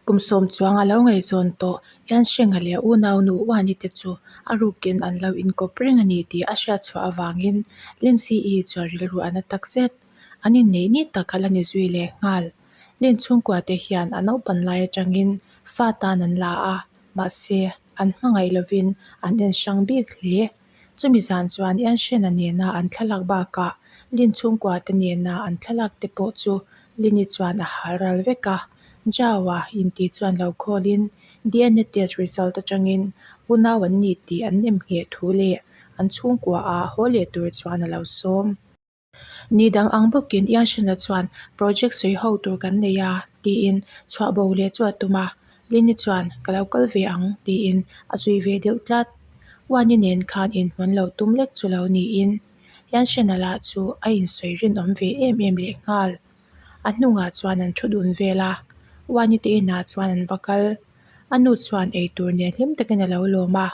Kum sawm chuang a lo ngaihzawn tawh hian Shengha leh u naunu Wani te chu a rukin an lo inkawp reng a ni tih a hriatchhuah avangin Lindsay-i chuan rilru a na tak zet. An inneih ni tak a la ni zui leh nghal. Lin chhungkua te hian a naupan lai atangin fa tan an la a, mahse an hmangaih lovin an en hrang bik hle. Chumi zan chuan Yanshena nena an thlalak bakah Lin chhungkua te nena an thlalak te pawh chu Lin-i chuan a hal ral vek a. Zhao-a inti chuan lo khawlin, DNA test result atangin unau an ni tih an nem ngheh thu leh an chhungkuaah haw leh tur chuan a lo sawm. Ni dang ang bawkin Ian Hrinla chuan project sawi ho tur kan nei a, tiin chhuahbo leh chu a tum a, Lynn-i chuan ka lo kal ve ang, tiin a zui ve deuh tlat. Uan-i nen khan inhmun lo tum lek chu lo niin, Ian Hrinla la chu a insawi rinawm ve em em leh nghal. A hnungah chuan an thu dun vel a, Uan-i te inah chuan an va kal. A nu chuan eitur nen hlim takin a lo lawm a.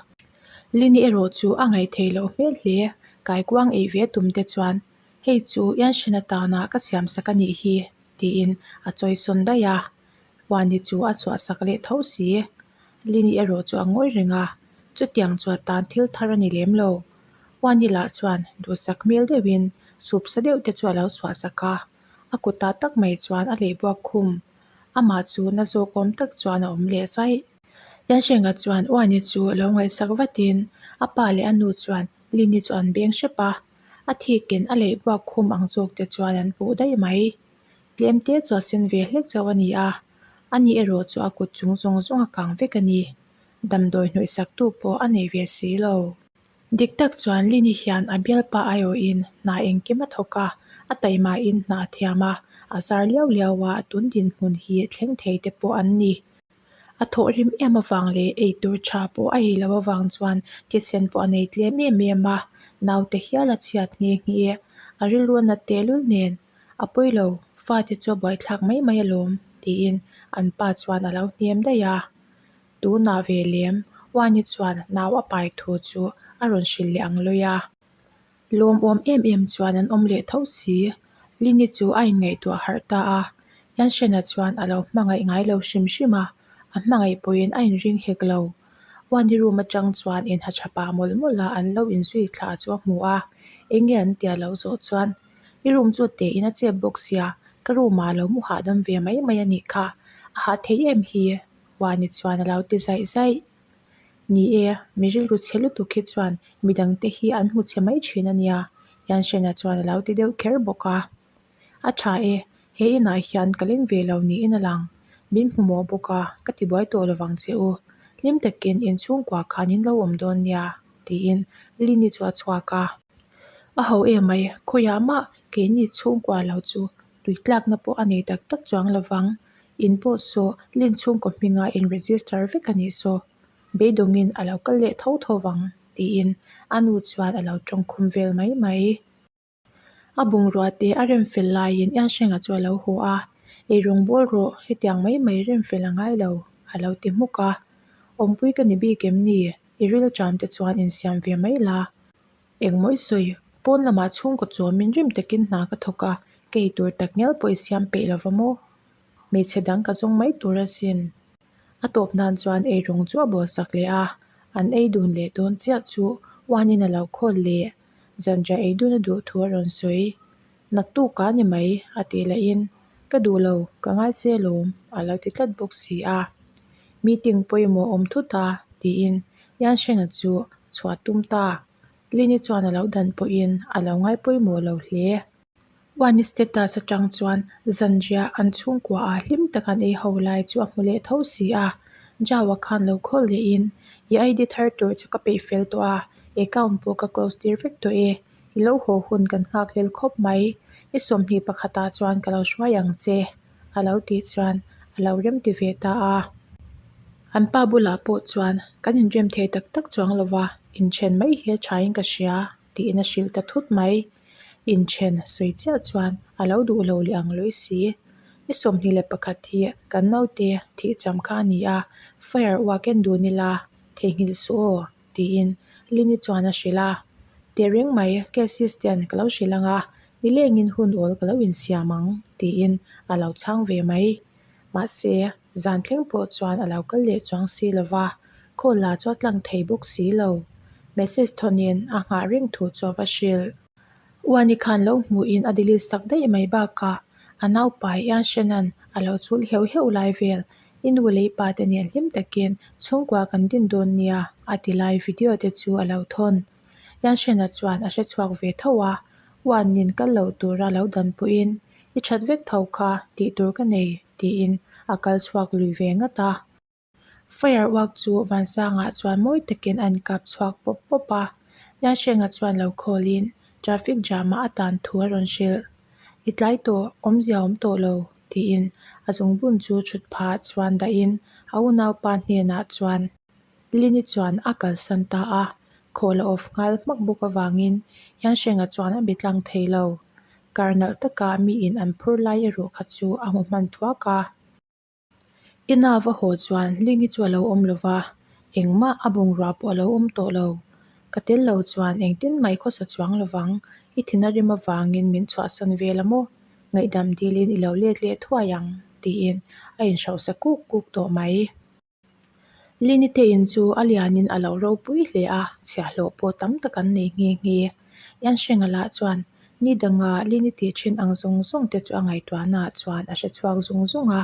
Lini erawh chu a ngaihthei loh hmel hle, kaikuang ei ve tum te chuan hei chu Yanshina tana ka siamsak a nih hi tiin a chawisawn daih a, Huani chu a chhuahsak leh tho si. Lini erawh chu a ngawi reng a, chutiang chuan tan thil thar a ni lem lo. Huani lah chuan duhsak hmel deuhin supsa deuh te chu a lo chhuahsak a, a kut ah tak mai chuan a lehbuak khum. Amah chu na zawkawm tak chuan a awm leh saih. Yansheng-a chuan Uani chu a lo ngaihsak vatin a pa leh a nu chuan Lini chu an beng hrep a. A thikin a leih buak khum ang zawk te chuan an puh daih mai. Tlemte chu a sen ve hlek chauh a ni a, a ni erawh chu a kut chung zawng zawng a kang vek a ni. Damdawi hnawihsak tu pawh a nei ve si lo. Dik tak chuan Lini hian a bial pa aiawhin hna engkim a thawk a, a taih mahin hna a thiam a, a zar liau liau a, a tun dinhmun hi thleng thei te pawh an ni. A thawh hlim em avang leh eitur tha pawh a ei lo avang chuan Kisen pawh a nei tlem em em a, naute hial a chhiat nghe nghe e. A rilruan a tehlul nen, A pawi lo, fate chu a buaithlak mai mai alawm, tiin an pa chuan a lo hnem daih a. Tunah ve lem, Wani chuan nau a pai thu chu a rawn hrilh leh ang lawih a. Lawmawm em em chuan an awm leh tho si. Lini chu a inngaihtuah harh ta a, Yanshena chuan a lo hmangaih ngai lo hrim hrim a, a hmangaih pawhin a inring hek lo. Wani room atang chuan in hachha pah mawlh mawlh a an lo inzui thlah chu a hmu a, eng nge an tia loh zawh chuan I room chu tein a chep bawk sia, ka room ah lo mu hahdam ve mai mai a nih kha, a hah theih em hi? Wani chuan a lo ti zaih zaih. Ni e, mi rilru chhe lutuk hi chuan mi dangte hi an hmu chhe mai thin a nia, Yanshena chuan a lo ti deuh kher bawk a. A tha e, he inah hian ka leng ve lo niin a lang. Min hmu maw bawk a, ka ti buai tawh lovang che u. Hlim takin in chhungkua khan in lo awm dawn nia, tiin Lynn-i chu a chhuak a. A ho e mai, khawiah mah keini chhungkua lo chu tui tlakna pawh a nei tak tak chuang lo vang. In pawh saw Lin chhungkaw hmingah in register vek a nih saw beidawngin a lo kal leh tho tho vang, tiin a nu chuan a lo tawng khum vel mai mai. A bungrûate a rem fel laiin Ensheng-a chu a lo haw a, Ei rawngbâwl rawh, hetiang mai mai rem fel a ngai lo, a lo ti hmuk a. Awmpui ka ni bik em ni? I rilṭan te chuan in siam ve mai la. Engmawih sawi, pawn lamah chhungkaw chuamin rim takin hna ka thawk a, ka ei tur tak ngial pawh i siam peih lo va maw? Hmeichhe dang ka zawng mai tur a sin. A tawp nan chuan ei rawng chu a bawl sak leh a, an ei dun leh dawn chiah chu uanin a lo khawl leh. Zanriah ei duna duh thu a rawn sawi. Naktuk ka ni mai a tih leh in ka duh lo ka ngaise lawm a lo ti tlat bawk si a, meeting pawimawh awm thut a tiin Yanshena chu chhuah tum ta. Lini chuan a lo dan pawh in a lo ngai pawimawh lo hle. Wani status atang chuan zanria an chhungkua ah hlim tak an ei ho lai chu a hmu leh tho si a, Jawa khan lo call leh in i id thar tur chu ka peih fel tawh a, account pawh ka close tir vek tawh e. I lo haw hun kan nghak lel khawp mai, i sawmhnih pakhata chuan ka lo hruai ang che a lo tih chuan a lo rem ti ve ta a. An pa bulah pawh chuan kan inrem thei tak tak chuang lo va, inthen mai hi a thain ka hria tiin a hrilh ta thut mai. Inthen sawi chiah chuan a lo duh lo leh ang lawi si. I sawmhnih leh pakhat hi kan naute thih cham kha a ni a, fire uaken dun ila theihnghilh suh aw tiin Lini chuan a hrilh a, Teh reng mai cases te an ka lo hrilh ang a, nilengin hun awl ka lo insiam ang tiin a lo chhang ve mai. Mahse, zan thleng pawh chuan a lo kal leh chuang si lo va, call-a chu a tlang thei bawk si lo. Message thaw nen a nghah reng thu chu a va hrilh. Uanikhan lo hmuh in a delete sak daih mai bakah a naupa hi a Shannon a lo chul heuh heuh lai vel. I nu leh i pa te nih hlim takin chhungkua kan din dawn nia a ti lai video te chu a lo thawn. I Shannon chuan a hrechhuak ve tho a, Uanin kal loh tura lo dan pawh in i that vek tho kha tih tur ka nei tiin a kal chhuak lui ve ngat a. Fire uak chu Vansanga chuan mawi takin a inkap chhuak pawp pawp a, Nyashenga chuan lo khawlin traffic jam-ah a tan thu a rawn hrilh. I tlai tawh, awmzia awm tawh lo, tiin a zungbun chu chhut phah chuan dahin a unaupa hnenah chuan Lini chuan a kalsan ta a, khawl a off nghal hmak bawk avangin Nyashenga chuan a bitlang thei lo. Kar nalh taka mi in an phur lai erawh kha chu a hmu hman thuak a. Inava haw chuan Ling-i chu a lo awm lo va, engmah a bungrua pawh a lo awm tawh lo. Ka tel lo chuan engtin mai khawsa chuang lo vang, i thin a rim avangin min chhuahsan vel a maw? Ngaihdam dilin i lo let leh thuai ang, tiin a inhrauhsa kuk kuk tawh mai. Linite in chu a lianin a lo ropui hle a, chhiahhlawh pawh tam tak an nei nghe nghe. Yan Sheng-a lah chuan ni danga Linite ṭhin ang zawng zawng te chu a ngaihtuahnaa chuan a hre chhuak zung zung a.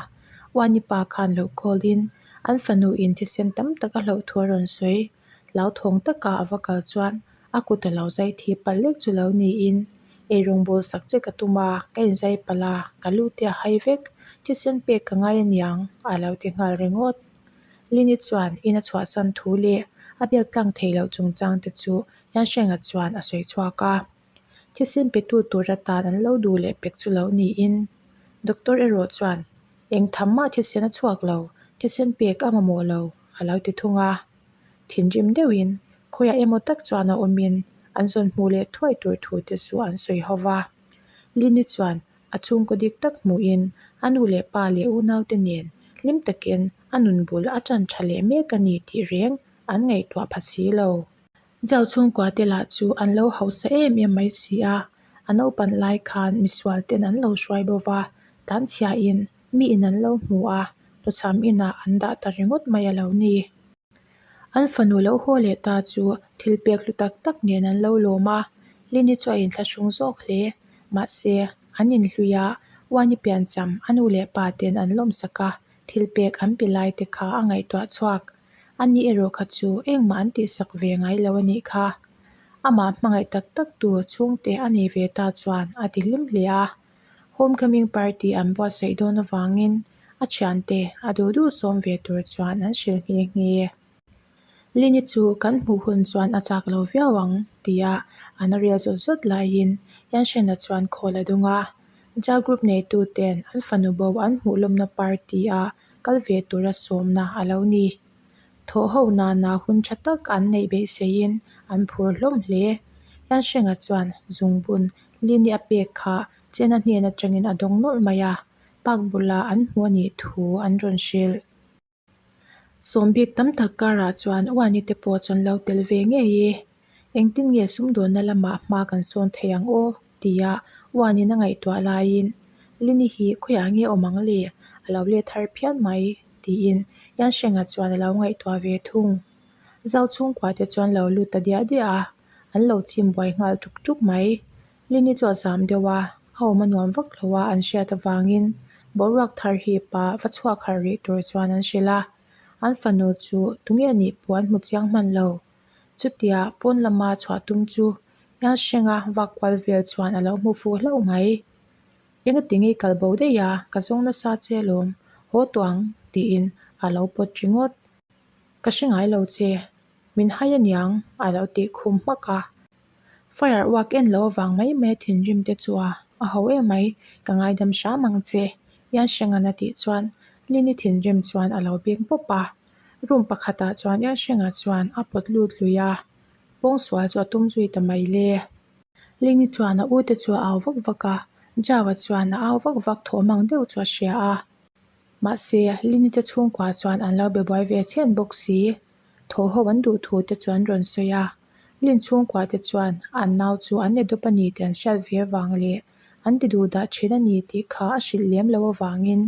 Uanipa khan lo call-in an fanu in thisen tam tak a hlauhthuah a rawn sawi. Lau thawng taka a va kal chuan a kut a lo zai thi palh lek chu lo niin, Ei rawng bul sak che ka tum a, ka in zai palh a, ka lu te a hai vek, thisen pek ka ngai aniang a lo ti nghal ringawt. Lini chuan in a chhuahsan thu leh a biak tlang thei loh chungchang te chu Hnahrenga chuan a sawi chhuak a. Thisen petu tura tan an lo duh leh pek chu lo niin, Doctor erawh chuan, Eng tham mah thisen a chhuak lo, thisen pek a mamawh lo, a lo ti thung a. Thinrim deuhin, khawiah emaw tak chuan a awmin, an zawn hmuh leh thuai tur thute chu an sawi ho va. Lini chuan a chhungkaw dik tak hmuhin, a nu leh pa leh unaute nen hlim takin a nun bul a ṭan ṭha leh mek a ni tih reng an ngaihtuah pha si lo. Zau chhungkua te lah chu an lo hausa em em mai si a, a naupang lai khan misual ten an lo hruai bo va, tan chhia in mi in an lo hmu a, tawcham inah an dah ta ringawt mai a lo ni. An fanu lo haw leh ta chu thil pek hlu tak tak nen an lo lawm a, Lini chu a inthlahrung zawk hle, mahse an inhlui a, Wani pian cham a nu leh pa ten an lawmsak a, thil pek an pe lai te kha a ngaihtuah chhuak. A nih erawh kha chu engmah an tih sak ve ngai lo a nih kha. Amah hmangaih tak tak tu chhungte a nei ve ta chuan a ti hlim hle a. Homecoming party an buatsaih dawn avangin a thiante a duh duh sawm ve tur chuan an hrilh nghe nghe e. Lini chu kan hmuh hun chuan a chak lo viau ang ti a an rel zawt zawt laiin Yanshena chuan khawl a dung a. Jalgroup neitu ten an fanubo an hmuhlawmna party ah kal ve tura sawmna a lo ni. Thawh ho nana hun tha tak an neih beiseiin an phur hlawm hle. Hlan Hrenga chuan Zungbun Lini a pek kha Chena hnen atangin a dawng nawlh mai a, park bula an hmu a nih thu an rawn hrilh. Sawmbik tam tak karah chuan Uani te pawh chawn lo tel ve ngei i. Engtin nge sumdawnna lamah hma kan sawn thei ang aw? tia Uanin a ngaihtuah laiin, Lini hi khawiah nge awm ang le? A lo let har phian mai, tiin Yan Sheng-a chuan a lo ngaihtuah ve thung. Zau chhungkua te chuan lo lu ta diah diah a, an lo chim buai nghal ṭuk ṭuk mai. Lini chu a zam deuh a, a awm a nuam vak lo a an hriat avangin, boruak thar hi pa va chhuak harh rih tur chuan an hrilh a. An fanu chu tunge a nih pawh an hmu chiang hman lo. Chutia pawn lama chhuah tum chu Yal Hrenga vak kual vel chuan a lo hmu fu hlauh mai. Eng a ti ngei kal bo daih a, ka zawng nasa che alawm haw tawh ang tiin a lo pawt ringawt. Ka hre ngai lo che, min hai a niang a lo ti khum hmak a. Fire uak en lo avang mai mai a thinrim te chu a a ho em mai, ka ngaidam hram ang che, Yal Hrenga'n a tih chuan Lini thinrim chuan a lo bik bawp a. Room pakhatah chuan Yawn Hrengah chuan a pawt lut lui a, pawng sual chu a tum zui ta mai le. Ling-i chuan a u te chu a au vak vak a, Jao-a chuan a au vak vak thaw mang deuh chu a hria a. Mahse, Lini te chhungkua chuan an lo be buai ve chhian bawk si. Thaw ho an duh thu te chu an rawn sawi a. Lin chhungkua te chuan an nau chu an ni dup a ni tih an hriat vir vang leh an ti duh dah thin a ni tih kha a hrilh lem lo avangin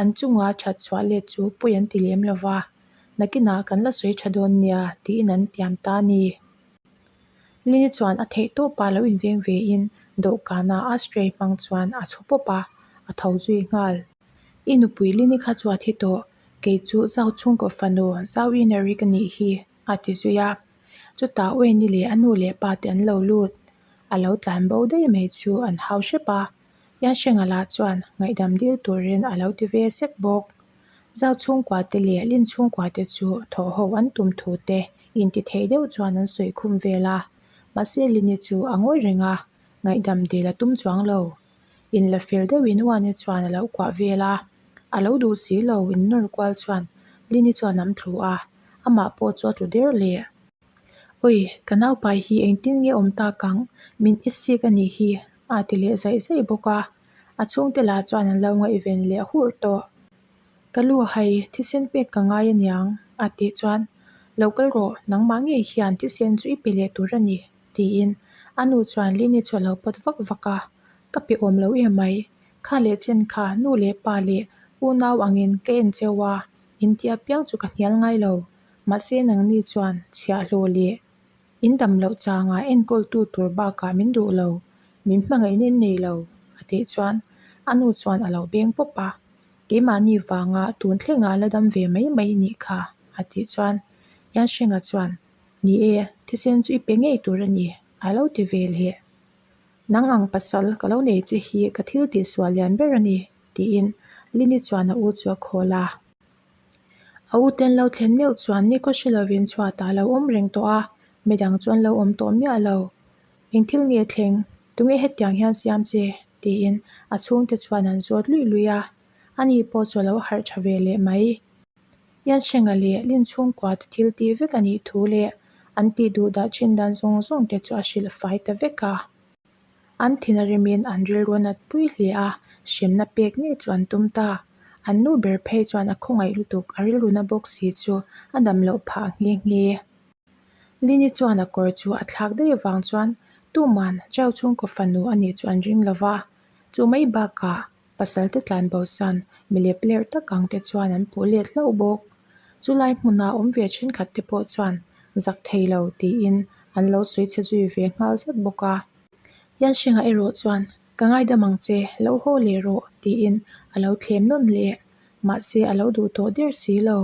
an chunga that chhuah let chu pui an ti lem lo va, Nakinah kan la sawi tha dawn nia tiin an tiam ta ni. Lini chuan a theih tawh pah lo inveng ve in dawhkanah a spray hmang chuan a chhu pawp a, a tho zui nghal. I nupui Lini kha chuah thi tawh, kei chu zau chhungkaw fanu, zau i na ri ka nih hi. a ti zui a chutah uaini leh a nu leh pa te an lo lut a lo tlan bo daih mai chu an hau hrep a Yan Hrenga lah chuan ngaihdam dil turin a lo ti ve sek bawk zau chhungkua te leh lim chhungkua te chu thawh ho an tum thu te inti theih deuh chuan an sawi khum vel a mahse Lini chu a ngawi reng a ngaihdam dil a tum chuang lo. in la fir deuhin Huan-e chuan a lo kuah vel a, a lo dul si lo in nawr kual chuan Lin-i chuan an thlu a, amah pawh chu a tlu der leh. Awi, ka naupai hi engtin nge awm tak ang, min i sik a nih hi, a ti leh zaih zaih bawk a, a chhungte lah chuan an lo ngaih ven leh hur tawh. Ka lu hai, thisen pek ka ngai a niang, a tih chuan, Lo kal rawh, nangmah ngei hian thisen chu i pe leh tur a ni, tiin a nu chuan Lin i chawlh lo pawt vak vak a, Ka pe awm lo em mai, kha leh chen kha nu leh pa leh u nau angin ka en cheu a, in ti apiang chu ka hnial ngai lo, mahse nangni chuan chhiah hlaw leh in dam loh changah enkawltu tur bakah min duh lo, min hmangaihna in nei lo a tih chuan a nu chuan a lo beng pawp a, keimahni vanga tun thlengah la dam ve mai mai nih kha a tih chuan Yansheng-a chuan Ni e, thisen chu i pe ngei tur a ni, a lo ti ve le. Nang ang pasal ka lo nei che hi ka thil tih sual lian ber a ni, tiin Lini chuan a u chu a khawl a. A u ten lo thlen meuh chuan ni ka hre lovin chhuatah a lo awm reng tawh a, midang chuan lo awm tawh miah lo. Eng thil nge thleng, tunge hetiang hian siam che? tiin a chhungte chuan an zawt lui lui a. Ani pawh chu a lo harh tha ve leh mai. Yan Sheng-a leh Lin chhungkuate thil tih vek a nih thu leh an tih duh dah chin dan zawng zawng te chu a hrilh fai ta vek a, an thina remin an rilru a nat pui hle a, hremna pek ngei chu an tum ta. An nu ber phei chuan a khawngaih lutuk a rilruna bawk si chu a dam loh phah nghe nghe. Lin-i chuan a kawr chu a thlak daih avang chuan, Tuman, Chau chhungkaw fanu a nih chu an ring lo va, chu mai bakah Pasalte tlanbosan milep ler tak ang te chuan an puh let hlauh bawk. Chulai hmunah awm ve thenkhat te pawh chuan zak thei lo tiin an lo sawi chhe zui ve nghal zat bawk a. Yansheng-a erawh chuan, Ka ngaidam ang che, lo haw leh rawh, tiin a lo thlem nawn leh. Mahse a lo duh tawh der si lo.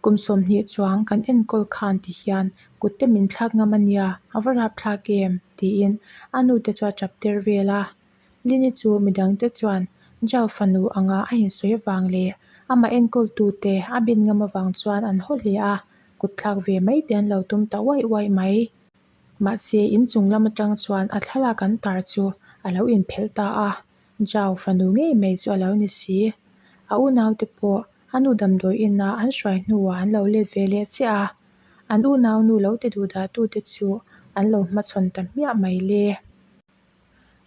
Kum sawmhnih chuang kan enkawl khan tihian kutte min thlak ngam a nia, a va rap thlak em? tiin a nute chu a ṭap ter vel a. Lini chu mi dangte chuan Jao fanu anga a insawi vang leh amah enkawl tute a bin ngam avang chuan an haw hle a, kut thlak ve mai te an lo tum ta uaih uaih mai. Mahse, in chung lam atang chuan a thlalak an tar chu a lo inphelh ta a, Jao fanu ngei mai chu a lo ni si. A unaute pawh a nu damdawi ina an hruai hnuah an lo let ve leh chiah a, an unaunu lo ti duhdahtute chu an lo hmachhawn ta hmiah mai le.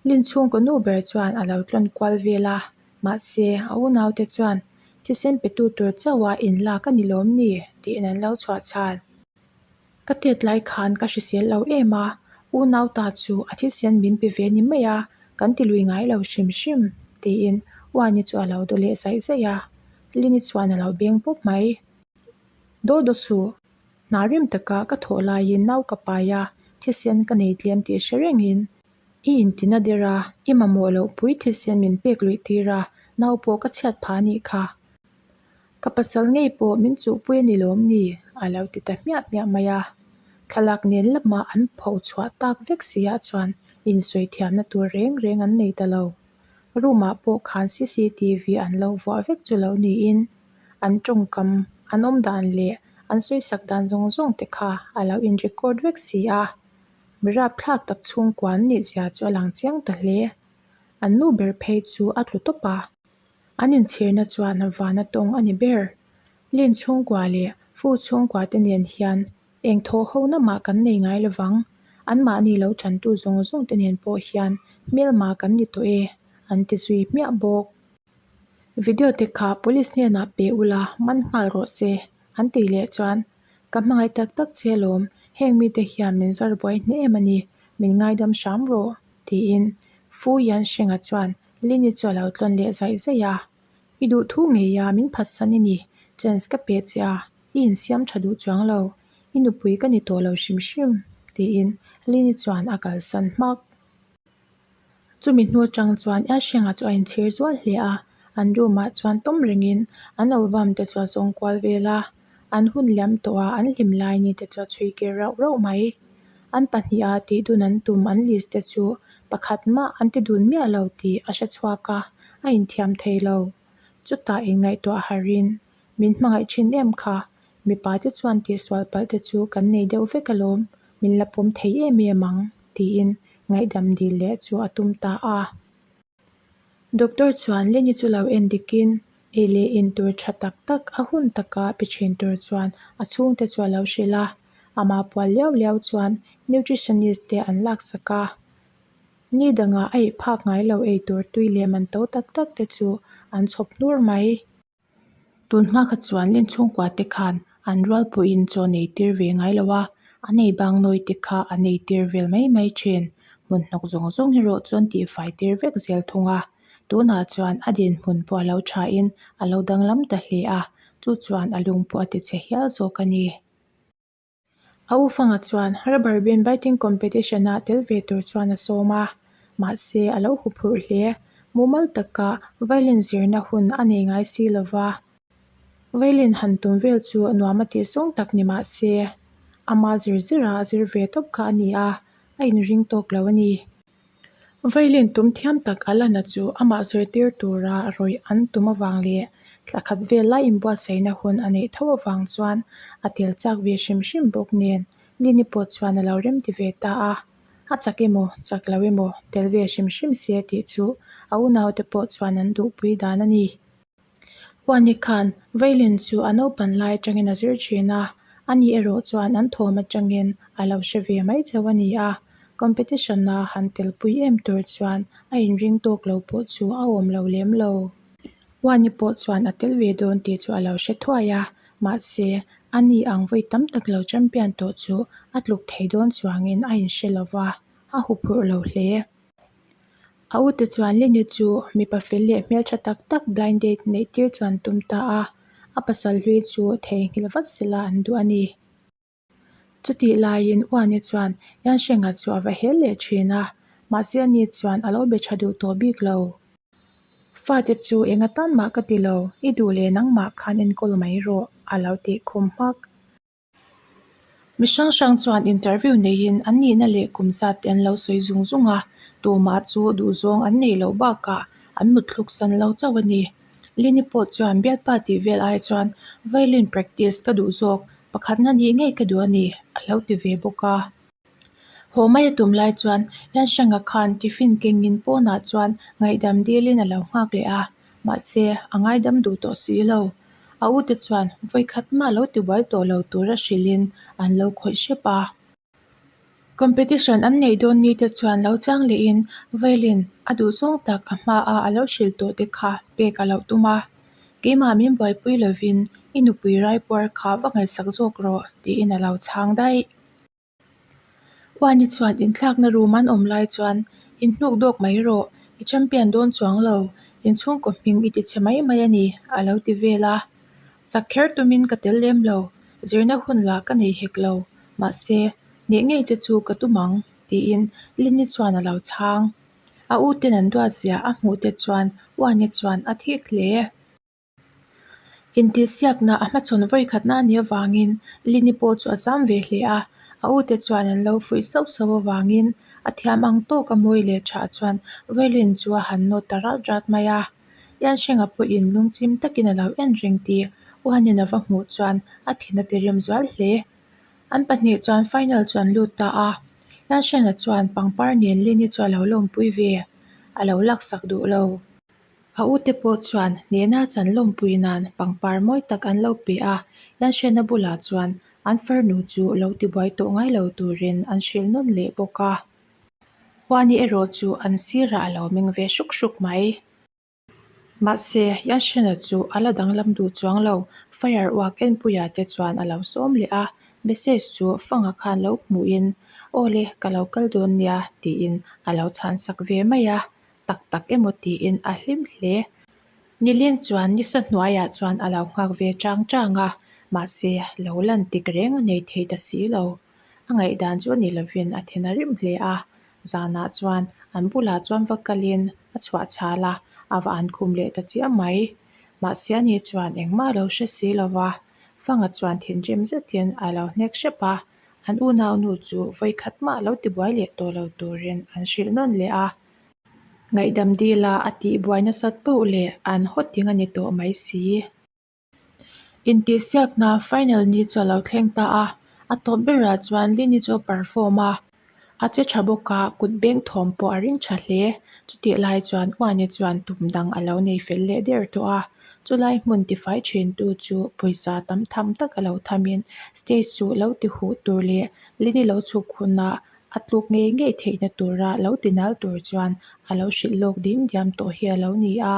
Lin chhung ka nu ber chuan a lo tlawn kual vel a, mahse, a unau te chuan, Thisen petu tur chauha in lak a ni lawm ni? tiin an lo chhuah chhan. Ka tet lai khan ka hrisel lo em a, unau ta chu a thisen min pe ve ni mai a, kan ti lui ngai lo hrim hrim, tiin Uani chu a lo daw leh zaih zaih a. Lin-i chuan a lo beng pup mai, Daw daw suh. Hna rem taka ka thawh laiin nau ka paia thisen ka nei tlem tih hre rengin i inti na der a, i mamawh loh pui thisen min pek luih tir a, nau pawh ka chhiat pha anih kha. Ka pasal ngei pawh min chuh pui ani lawm ni? A lo ti ta hmiah hmiah mai a. Thlalak nen lamah an pho chhuah tak vek si ah chuan insawi thiamna tur reng reng an nei ta lo. Room ah pawh khan cctv an lo vuah vek chu lo niin. an tawngkam, an awmdan leh an sawisak dan zawng zawng te kha a lo in record vek si a, mi rapthlak tak chhungkua an nih zia chu a lang chiang ta hle. An nu ber phei chu a tlu tawp a, an inchhirna chuan vana tawng a ni ber. Lin chhungkua leh Fu chhungkua te nen hian eng thawhho na mah kan nei ngai lovang, an mahni lo chantu zawng zawng te nen pawh hian hmelma kan ni tawh e, an ti zui hmiah bawk. Video te kha police hnenah pe ula man nghal rawh se an tih leh chuan ka hmangaih tak tak che alawm, heng mite hian min zar buai hneh em ani, min ngaidam hram rawh tiin Fu Yan Sheng-a chuan Lynn-i chu a lo tlawn leh zaih zaih a. I duhthu ngei a, min phatsan i ni, chance ka pe che a, i insiam tha duh chuang lo, i nupui ka ni tawh lo hrim hrim tiin Lynn-i chuan a kalsan hmak. Chumi hnu atang chuan Yasheng-a chu a inchhir zual hle a, an room-a chuan tawm rengin an album te chu a zawng kual vel a, an hun liam tawh a an hlim lai a ni te chu a chhui kir rauh rauh mai. An pahnih-a tih dun an tum an list te chu pakhat mah an ti dun miah lo tih a hre chhuak a, a inthiam thei lo. Chutah in ngaihtuah harhin Min hmangaih thin em kha. Mipa te chuan tihsual palh te chu kan nei deuh vek alawm, min la pawm thei em em ang, tiin ngaihdam dil leh chu a tum ta a. Doctor chuan Lenny chu lo en dikin ei leh in tur tha tak tak a hun taka pe thin tur chuan a chhungte chu a lo hrilh a. Amah pual liau liau chuan nutritionist te an laksak a. Ni dangah a ihphak ngailo ei tur tui leh man to tak tak te chu an chhawp hnur mai. Tunhma kha chuan Len chhungkua te khan an rualpuiin chawn ei tir ve ngai lo a, a nei bang nawi te kha an ei tir vel mai mai thin. Hmunhnawk zawng zawng erawh chuan tihfai tir vek zel thung a, tunah chuan a din hmun pawh a lo thain a lo danglam ta hle a, chu chuan a lung pawh a ti che hial zawk a ni. A ufanga chuan rubber band biting competition-ah tel ve tur chuan a sawm a, mahse a lo hu phurh hle. Mumal taka violin zirna hun a nei ngai si lo va, violin han tum vel chu nuam a tih sawng tak ni mah se, ama zir zirah a zir ve tawp kha a ni a, a inring tawk lo a ni. Violin tum thiam tak a lana chu amah zirtir tura rawih an tum avang leh thla khat vel lai inbuatsaihna hun a neih tho avang chuan a tel chak ve hrim hrim bawk nen Lini pawh chuan a lo rem ti ve ta a, A chak emaw, chak lo emaw, tel ve hrim hrim se tih chu a unaute pawh chuan an duhpui dan a ni. Huani khan veilen chu a naupan lai atangin a zir thin a, a nih erawh chuan an thawm atangin a lo hre ve mai chauh a ni a. Competition ah han telpui em tur chuan a inring tawk lo pawh chu a awm lo lem lo. Huani pawh chuan a tel ve dawn tih chu a lo hre thuai a, mahse, a nih ang vawi tam tak lo champion tawh chu a tluk thei dawn chuangin a inhre lo va, a huphurh lo hle. A ute chuan Lini chu mipa fel leh hmeltha tak tak blind date neih tir chuan tum ta a, a pasal hlui chu theihnghilh vat sela an duh a ni. Chutih laiin U Ani chuan Yansheng-a chu a va hel leh thin a, mahse a ni chuan a lo be tha duh tawh bik lo. Fate chu eng atan mah ka ti lo, i duh leh nangmah khan enkawl mai rawh, a lo tih khum hmak. Mi hrang hrang chuan interview neiin an nihna leh kum zat te an lo sawi zung zung a, tumah chu duhzawng an nei loh bakah an mutthluk san lo chauh a ni. Lini pawh chuan biakba tih vel ai chuan violin practice ka duh zawk, pakhatna nih ngei ka duh a ni, a lo ti ve bawk a. Haw mai a tum lai chuan Yan Sheng-a khan tiffin kengin pawnah chuan ngaihdam dîlin a lo nghâk leh a, mahse, a ngaidam duh tawh si lo. A u te chuan vawi khat mah lo ti buai tawh lo tûra hrilhin an lo khawih hrep a. Competition an neih dâwn ni te chuan lo châng lehin violin a duh zawng tak a hmaah a lo hrilh tawh te kha pek a lo tum a. Keimah min buaipui lovin i nupui raipuar kha va ngaihsak zâwk rawh, tiin a lo chhâng daih. Uani chuan inthlakna rum an awm lai chuan in hnuk dawk mai rawh, i champion dawn chuang lo, in chhungkaw hming i tichhe mai mai a ni, a lo ti vel a. Chak kher tumin ka tel lem lo, zirna hun lah ka nei hek lo, mahse, neh ngei che chu ka tum ang, tiin Lynn-i chuan a lo chhang. A uten an duatziah a hmuh te chuan Uani chuan a thik hle. Intihsiakna a hmachhawn vawikhatna ni avangin Lini pawh chu a zam ve hle a, a ute chuan an lo fuih sauh sauh avangin a thiam ang tawk a mawi leh thah chuan Vailin chu a han nawt ta rat rat mai a. Yansheng-a pawhin lungchim takin a lo en reng ti U Hanin a va hmuh chuan a thin a ti rem zual hle. An pahnih chuan final chu an lut ta a, Yansheng-a chuan pangpar nen Lini chu a lo lawmpui ve, a lo laksak duh lo. A u te pawh chuan hnehna chan lawmpui nan pangpar mawi tak an lo pe a, Yan Hriatna bulah chuan an farnu chu lo tibuai tawh ngai lo turin an hrilh nawn leh bawk a, Huani erawh chu an sirah a lo meng ve hruk hruk mai. Mahse, Yan Hriatna chu a la danglam duh chuang lo, fire uak enpuia te chuan a lo sawm leh a, message chu fanga khan lo hmuhin, Aw le, ka lo kal dawn nia, tiin a lo chhansak ve mai a, tak tak emaw tiin a hlim hle. Nileng chuan nisa hnuaiah chuan a lo nghak ve chang chang a, mahse lo lantik reng a nei thei ta si lo. A ngaihdan chu a nih lovin a then a rim hle a, zanah chuan an bulah chuan va kalin a chhuah chhal a, a va an khum leh ta chiah mai. Mahse a ni chuan engmah a lo hre si lo va, Fanga chuan thinrim zetin a lo hnek hrep a, an unaunu chu vawikhat mah lo tibuai leh tawh lo turin an hrilh nawn leh a. Ngaihdam dil a, a tih buai nasat pauh le, an haw ting a ni tawh mai si. Intihsiak hna final ni chu a lo thleng ta a, a tawp ber ah chuan Lee ni chu a perform a, a che tha bawk a, kut beng thawm pawh a ring tha hle. Chutih lai chuan Ua ni chuan tum dang a lo nei fel leh der tawh a, chu lai hmun tifai thin tu chu pawisa tam tham tak a lo tham in stage suh lo ti huh tur leh Lee ni lo chhuk hunah A tluk ngei ngei theihna tura lo tinal tur chuan a lo hrilh lawk ding diam tawh hi a lo ni a.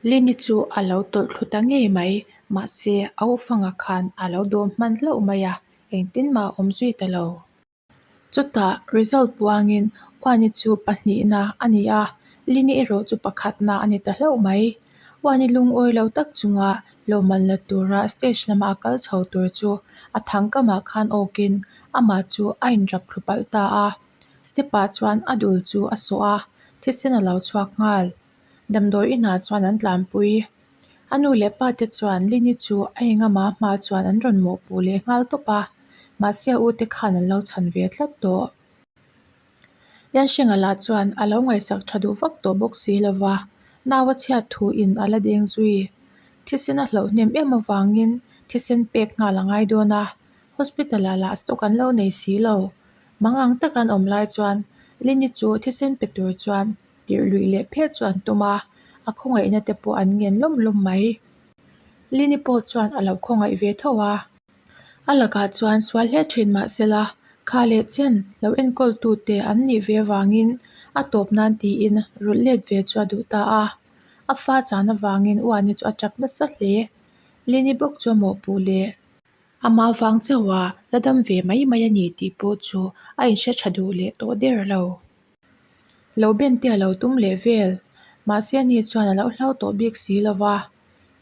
Lini chu a lo tawlh thlu ta ngei mai. Mahse, a ufanga khan a lo dawm hman hlauh mai a, engtin mah awm zui ta lo. Chutah result puangin Uani chu pahnihna a ni a, Lini erawh chu pakhatna a ni ta hlauh mai. Huan i lungawi lo tak chunga lohman la tura stage lama a kal chho tur chu a thang kamah khan awkin amah chu a inrap thlu palh ta a. Step ah chuan a dul chu a sawh a, thisen a lo chhuak nghal. Damdawi inah chuan an tlanpui. A nu leh pa te chuan Lini chu a eng amah hma chuan an rawn mawhpuh leh nghal tawp a, mahse a ute khan an lo chhan ve tlat tawh. Yan Sheng-a lah chuan a lo ngaihsak tha duh vak tawh bawk si lo va, nau a chhiat thu in a la deng zui. Thisen a hloh hnem em avangin thisen pek nghal a ngai dawn a, hospital-ah lah stock an lo nei si lo. Mangang taka an awm lai chuan Lini chu thisen pe tur chuan tirh luih leh phel chu an tum a, a khawngaihna te pawh an ngen lawm lawm mai. Lini pawh chuan a lo khawngaih ve tho a. A lakah chuan sual hle thin mahsela, kha leh chen lo enkawltute an nih ve vangin a tawp nan tiin rulh let ve chu a duh ta a. A fa chahna vangin u Ani chu a tap nasa hle. Lini bawk chu a mawhpuh leh a mau vang chauha la dam ve mai mai a ni tih pawh chu a inhre tha duh leh tawh der lo. Lo ben te a lo tum leh vel mahse ani chuan a lo hlau tawh bik si lova.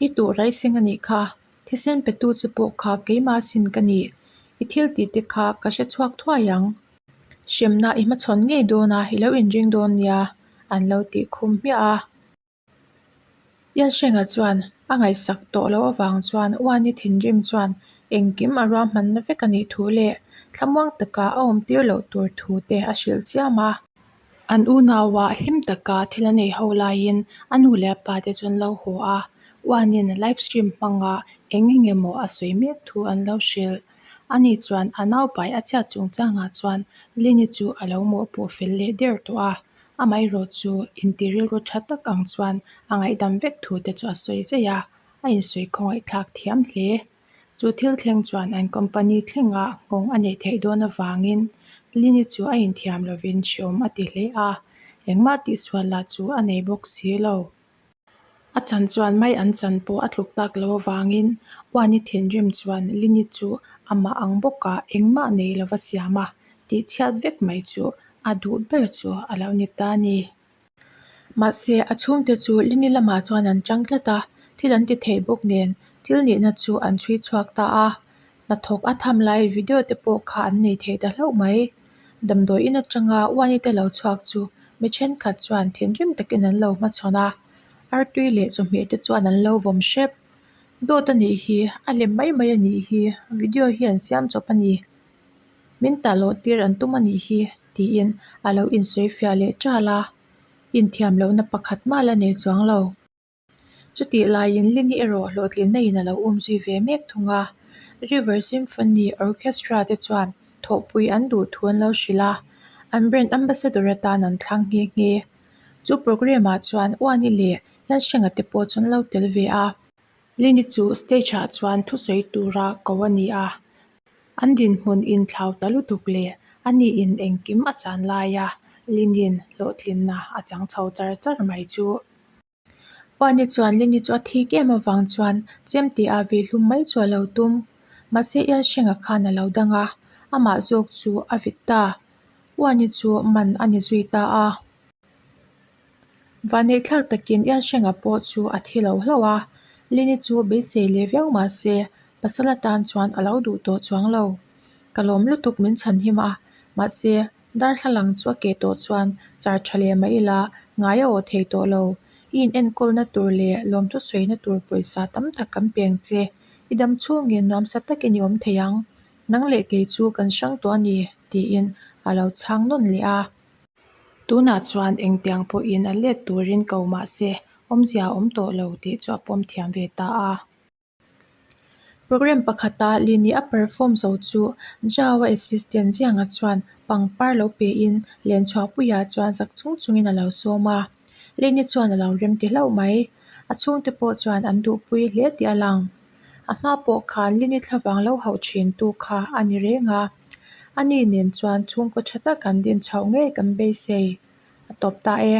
I turai seng anih kha. Thisen petu chu pawh kha keimah sin ka nih. I thil tih te kha ka hre chhuak thuai ang. Hriamnah i hmachhawn ngei dawnah i lo inring dawn nia an lo tih khum hmiah a. Yansheng-a chuan a ngaihsak tawh loh avang chuan Uani thinrim chuan engkim a ruahmanna vek a nih thu leh thlamuang takah a awmtir loh tur thu te a hrilh chiam a. An unauah hlim taka thil a nei ho laiin a nu leh a pate chu an lo haw a, Uanin live stream hmangah eng eng emaw a sawi mek thu an lo hrilh. Ani chuan a naupai a chhiat chungchangah chuan Lini chu a lo mawhpawh fel leh der tawh a, amaherawh chu inti rilru tha tak ang chuan a ngaihdam vek thu te chu a sawi zai a, a insawi khawngaihthlak thiam hle. Chu thil thleng chuan an company thlenga nghawng a neih theih dawn avangin Lini chu a inthiam lovin hriawm a ti hle a. Engmah tihsual lah chu a nei bawk si lo. A chan chuan mai an chan pawh a tluk tak lo avangin Uani thinrim chuan Lini chu a mah ang bawka engmah nei lova siam a tihchhiat vek mai chu a duh ber chu a lo ni ta a ni. Mahse, a chhungte chu Lini lamah chuan an chang tlat a, thil an ti theih bawk nen thil nihna chu an chhui chhuak ta a. Hnathawk a tham lai video te pawh kha an nei thei ta hlauh mai. Damdawiin atanga Uanite lo chhuak chu mi thenkhat chuan thinrim takin an lo hmachhawn a, artui leh chawhmeh te chuan an lo vawm hrep. Dawt a nih hi, a hlim mai mai a nih hi, video hi an siam chawp a ni. min tah loh tir an tum a nih hi tiin a lo insawifiah leh ṭal a, inthiam lohna pakhat mah la nei chuang lo. Chutih laiin Lini erawh hlawhtlinna in a lo um zui ve mek thung a, River Symphony Orchestra te chuan thawhpui an duh thu an lo hrilh a, an brand ambassador atan an thlang nghe nghe. Chu programme ah chuan Uani leh Hian Hrenga te pawh chu an lo tel ve a. Lini chu stage ah chuan thusawi tura ko a ni a. An dinhmun inthlau ta lutuk leh a nih in engkim a chan laia Linin hlawhtlinna a chang chho char char mai chu. Puani chuan Lini chu a thik em avang chuan chemte ah ve hlum mai chu a lo tum. Mahse Elsheng-a khan a lo dang a, amah zawk chu a vit ta. Puani chu man a ni zui ta a. Vaneihthlak takin Iansheng-a pawh chu a thi lo hlauh a, Lini chu beisei leh viau mah se, pasal atan chuan a lo duh tawh chuang lo. Ka lawm lutuk min chhan him a, mahse, darthlalang chu a ke tawh chuan char tha leh mah ila ngai a aw thei tawh lo. I inenkawl na tur leh lawmthu sawi na tur pawisa tam tak kan peng che. I dam chhungin nuamsa tak i ni awm thei ang. Nang leh kei chu kan hrang tawh a ni, tiin a lo chhang nawn leh a. Tunah chuan engtiang pawhin a let turin ko mahse, awmzia a awm tawh lo tih chu a pawm thiam ve ta a. Programme pakhata Lini a perform zo chu Java assistant zianga chuan pangpar lo pehin lenchhuah puiah chuan zak chung chungin a lo sawm a. Lini chuan a lo remti hlauh mai. A chhungte pawh chuan an duhpui hle tih a lang. A hma pawh khan Lini thla vang lo hauh thin tu kha a ni reng a, a ni nen chuan chhungkaw tha tak an din chhoh ngei kan beisei a tawp ta e.